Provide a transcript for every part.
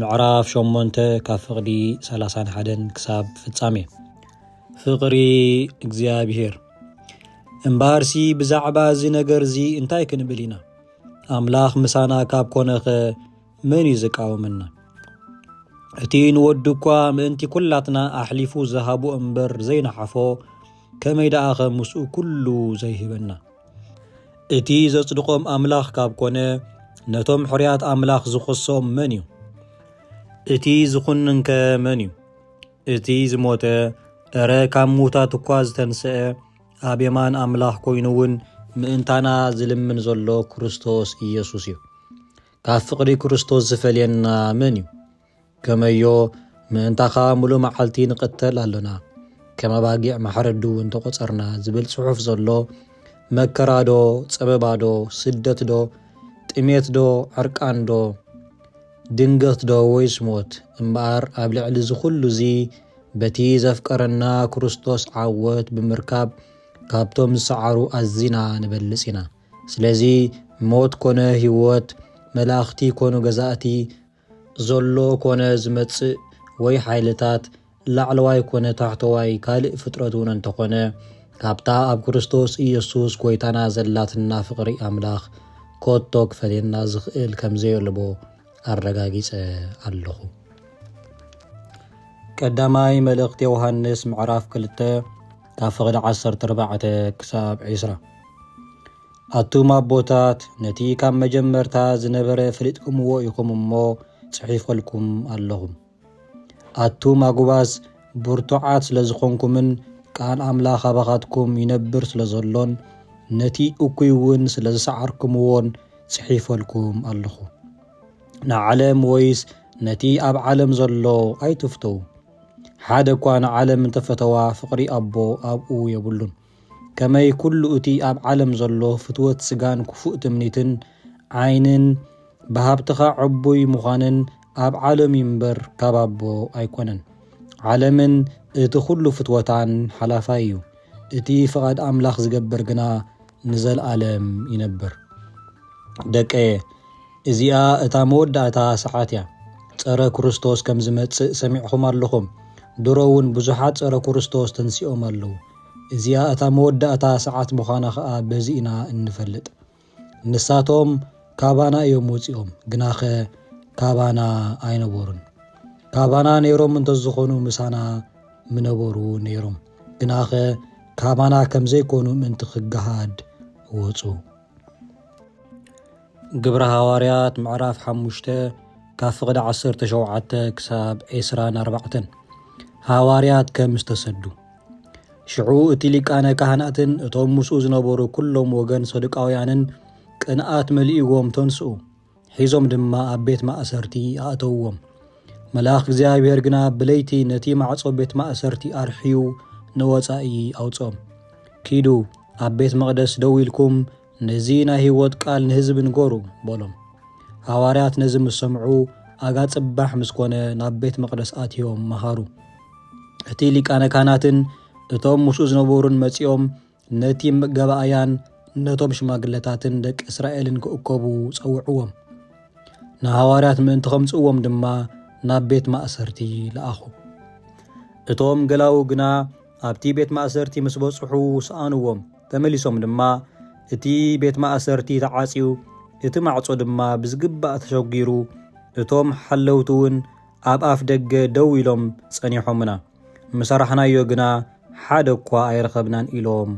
ምዕራፍ ሸሞንተ ካብ ፍቕዲ ሰላሳን ሓደን ክሳብ ፍጻሜ ፍቕሪ እግዚኣብሄር እምበኣርሲ ብዛዕባ እዚ ነገር እዚ እንታይ ክንብል ኢና ኣምላኽ ምሳና ካብ ኮነኸ መን እዩ ዝቃወመና እቲ ንወዱ እኳ ምእንቲ ኵላትና ኣሕሊፉ ዝሃቦ እምበር ዘይነሓፎ ከመይ ደኣኸ ምስኡ ኩሉ ዘይህበና? እቲ ዘጽድቖም ኣምላኽ ካብ ኮነ ነቶም ሕርያት ኣምላኽ ዝኸሶም መን እዩ? እቲ ዝኹንንከ መን እዩ? እቲ ዝሞተ እረ ካብ ምዉታት እኳ ዝተንስአ ኣብ የማን ኣምላኽ ኮይኑ እውን ምእንታና ዝልምን ዘሎ ክርስቶስ ኢየሱስ እዩ። ካብ ፍቕሪ ክርስቶስ ዝፈልየና መን እዩ? ከመዮ ምእንታኻ ሙሉ መዓልቲ ንቕተል ኣሎና ከም ኣባጊዕ ማሕረዱ እውን ተቖጸርና ዝብል ጽሑፍ ዘሎ መከራዶ ጸበባዶ ስደትዶ ጥሜትዶ ዕርቃንዶ ድንገትዶ ወይስ ሞት እምበኣር ኣብ ልዕሊ እዚ ኩሉ እዚ በቲ ዘፍቀረና ክርስቶስ ዓወት ብምርካብ ካብቶም ዝሰዓሩ ኣዚና ንበልጽ ኢና። ስለዚ ሞት ኮነ ህይወት፣ መላእኽቲ ኮኑ ገዛእቲ፣ ዘሎ ኮነ ዝመጽእ ወይ ሓይልታት፣ ላዕለዋይ ኮነ ታሕተዋይ ካልእ ፍጥረት እውን እንተኾነ፣ ካብታ ኣብ ክርስቶስ ኢየሱስ ጐይታና ዘላትና ፍቕሪ ኣምላኽ ኮቶ ክፈልየና ዝኽእል ከም ዘየልቦ ኣረጋጊጸ ኣለኹ። ቀዳማይ መልእኽቲ ዮሃንስ ምዕራፍ ክልተ ካብ ፍቕዲ ዓሰርተ ኣርባዕተ ክሳብ ዕስራ ኣቱም ኣቦታት ነቲ ካብ መጀመርታ ዝነበረ ፈሊጥኩምዎ ኢኹም እሞ ጽሒፈልኩም ኣለኹም። ኣቱም ኣጉባዝ ብርቱዓት ስለ ዝኾንኩምን ቃል ኣምላኽ ኣባኻትኩም ይነብር ስለ ዘሎን ነቲ እኩይ እውን ስለ ዝሰዓርኩምዎን ጽሒፈልኩም ኣለኹ። ንዓለም ወይስ ነቲ ኣብ ዓለም ዘሎ ኣይትፍተዉ። ሓደ እኳ ንዓለም እንተፈተዋ ፍቕሪ ኣቦ ኣብኡ የብሉን። ከመይ ኩሉ እቲ ኣብ ዓለም ዘሎ ፍትወት ስጋን ክፉእ ትምኒትን ዓይንን ብሃብትኻ ዕቡይ ምዃንን ኣብ ዓለም እዩ እምበር ካብ ኣቦ ኣይኮነን። ዓለምን እቲ ኩሉ ፍትወታን ሓላፋይ እዩ። እቲ ፍቓድ ኣምላኽ ዝገብር ግና ንዘልኣለም ይነብር። ደቀየ እዚኣ እታ መወዳእታ ሰዓት እያ። ጸረ ክርስቶስ ከም ዝመጽእ ሰሚዕኹም ኣለኹም። ድሮ እውን ብዙሓት ጸረ ክርስቶስ ተንሲኦም ኣለዉ። እዚኣ እታ መወዳእታ ሰዓት ምዃና ከኣ በዚ ኢና እንፈልጥ። ንሳቶም ካባና እዮም ወጺኦም፣ ግናኸ ካባና ኣይነበሩን። ካባና ነይሮም እንተዝኾኑ ምሳና ምነበሩ ነይሮም፣ ግናኸ ካባና ከም ዘይኮኑ ምእንቲ ክገሃድ ወጹ። ግብረ ሃዋርያት ምዕራፍ ሓሙሽተ ካብ ፍቕዲ ዓሰርተ ሸውዓተ ክሳብ ዒስራን ኣርባዕተን ሃዋርያት ከም ዝተሰዱ ሽዑ እቲ ሊቃነ ካህናትን እቶም ምስኡ ዝነበሩ ኩሎም ወገን ሰዱቃውያንን ቅንኣት መሊእዎም ተንስኡ ሒዞም ድማ ኣብ ቤት ማእሰርቲ ኣእተውዎም መልኣኽ እግዚኣብሔር ግና ብለይቲ ነቲ ማዕጾ ቤት ማእሰርቲ ኣርሕዩ ንወጻኢ ኣውጾም ኪዱ ኣብ ቤት መቕደስ ደው ኢልኩም ነዚ ናይ ህይወት ቃል ንህዝቢ ንገሩ በሎም። ሃዋርያት ነዚ ምስ ሰምዑ ኣጋ ጽባሕ ምስ ኮነ ናብ ቤት መቕደስ ኣትዮም መሃሩ። እቲ ሊቃነ ካህናትን እቶም ምስኡ ዝነበሩን መጺኦም ነቲ መጋባእያን ነቶም ሽማግለታትን ደቂ እስራኤልን ክእከቡ ጸውዕዎም። ንሃዋርያት ምእንቲ ከምጽእዎም ድማ ናብ ቤት ማእሰርቲ ለኣኹ። እቶም ገላዉ ግና ኣብቲ ቤት ማእሰርቲ ምስ በጽሑ ሰኣንዎም። ተመሊሶም ድማ እቲ ቤት ማእሰርቲ ተዓጽዩ፣ እቲ ማዕጾ ድማ ብዝግባእ ተሸጒሩ፣ እቶም ሓለውቲ እውን ኣብ ኣፍ ደገ ደው ኢሎም ጸኒሖምና። ምሰራሕናዮ ግና ሓደ እኳ ኣይረኸብናን ኢሎም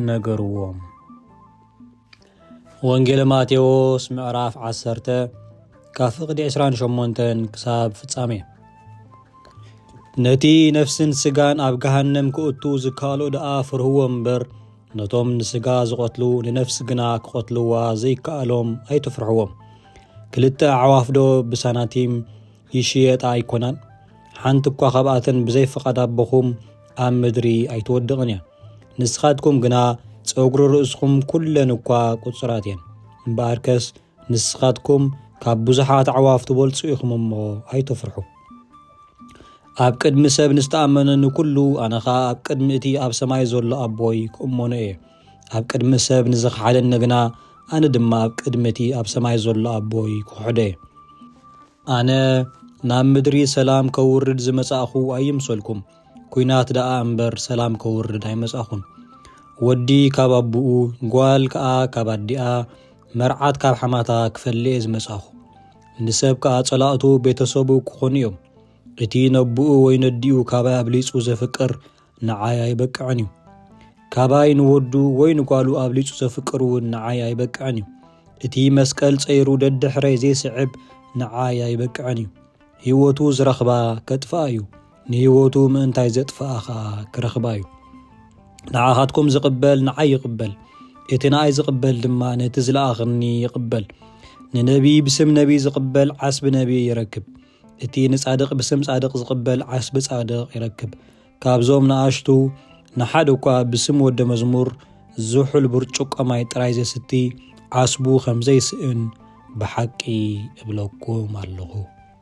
ነገርዎም። ወንጌል ማቴዎስ ምዕራፍ ዓሰርተ ካብ ፍቕዲ ዕስራን ሸሞንተን ክሳብ ፍጻሜ ነቲ ነፍስን ስጋን ኣብ ገሃነም ክእቱ ዝከኣሎ ደኣ ፍርህዎ እምበር ነቶም ንስጋ ዝቐትሉ ንነፍሲ ግና ክቐትልዋ ዘይከኣሎም ኣይትፍርሕዎም ክልተ ኣዕዋፍዶ ብሳናቲም ይሽየጣ ኣይኮናን ሓንቲ እኳ ካብኣተን ብዘይ ፍቓድ ኣቦኹም ኣብ ምድሪ ኣይትወድቕን እያ ንስኻትኩም ግና ጸጉሪ ርእስኹም ኩለን እኳ ቁጽራት እየን እምበኣርከስ ንስኻትኩም ካብ ብዙሓት ኣዕዋፍ ትበልጹ ኢኹም እሞ ኣይተፍርሑ ኣብ ቅድሚ ሰብ ንዝተኣመነ ንኩሉ ኣነ ኸኣ ኣብ ቅድሚ እቲ ኣብ ሰማይ ዘሎ ኣቦይ ክእመኖ እየ ኣብ ቅድሚ ሰብ ንዝኽሓደኒ ግና ኣነ ድማ ኣብ ቅድሚ እቲ ኣብ ሰማይ ዘሎ ኣቦይ ክኽሕዶ እየ ኣነ ናብ ምድሪ ሰላም ከውርድ ዝመጻእኹ ኣይምሰልኩም ኩናት ደኣ እምበር ሰላም ከውርድ ኣይመጻኹን። ወዲ ካብ ኣቡኡ፣ ጓል ከኣ ካብ ኣዲኣ፣ መርዓት ካብ ሓማታ ክፈልየ ዝመጻኹ። ንሰብ ከኣ ጸላእቱ ቤተሰቡ ክኾኑ እዮም። እቲ ነቡኡ ወይ ነዲኡ ካባይ ኣብሊጹ ዘፍቅር ንዓይ ኣይበቅዕን እዩ። ካባይ ንወዱ ወይ ንጓሉ ኣብሊጹ ዘፍቅር እውን ንዓይ ኣይበቅዕን እዩ። እቲ መስቀል ጸይሩ ደድሕረይ ዘይስዕብ ንዓይ ኣይበቅዕን እዩ። ህይወቱ ዝረኽባ ከጥፍኣ እዩ። ንህይወቱ ምእንታይ ዘጥፍኣ ኸኣ ክረኽባ እዩ። ንዓኻትኩም ዝቕበል ንዓይ ይቕበል፣ እቲ ንኣይ ዝቕበል ድማ ነቲ ዝለኣኽኒ ይቕበል። ንነቢዪ ብስም ነቢዪ ዝቕበል ዓስቢ ነቢዪ ይረክብ፣ እቲ ንጻድቕ ብስም ጻድቕ ዝቕበል ዓስቢ ጻድቕ ይረክብ። ካብዞም ንኣሽቱ ንሓደ እኳ ብስም ወደ መዝሙር ዝሑል ብርጭቆ ማይ ጥራይ ዘስቲ ዓስቡ ከም ዘይስእን ብሓቂ እብለኩም ኣለኹ።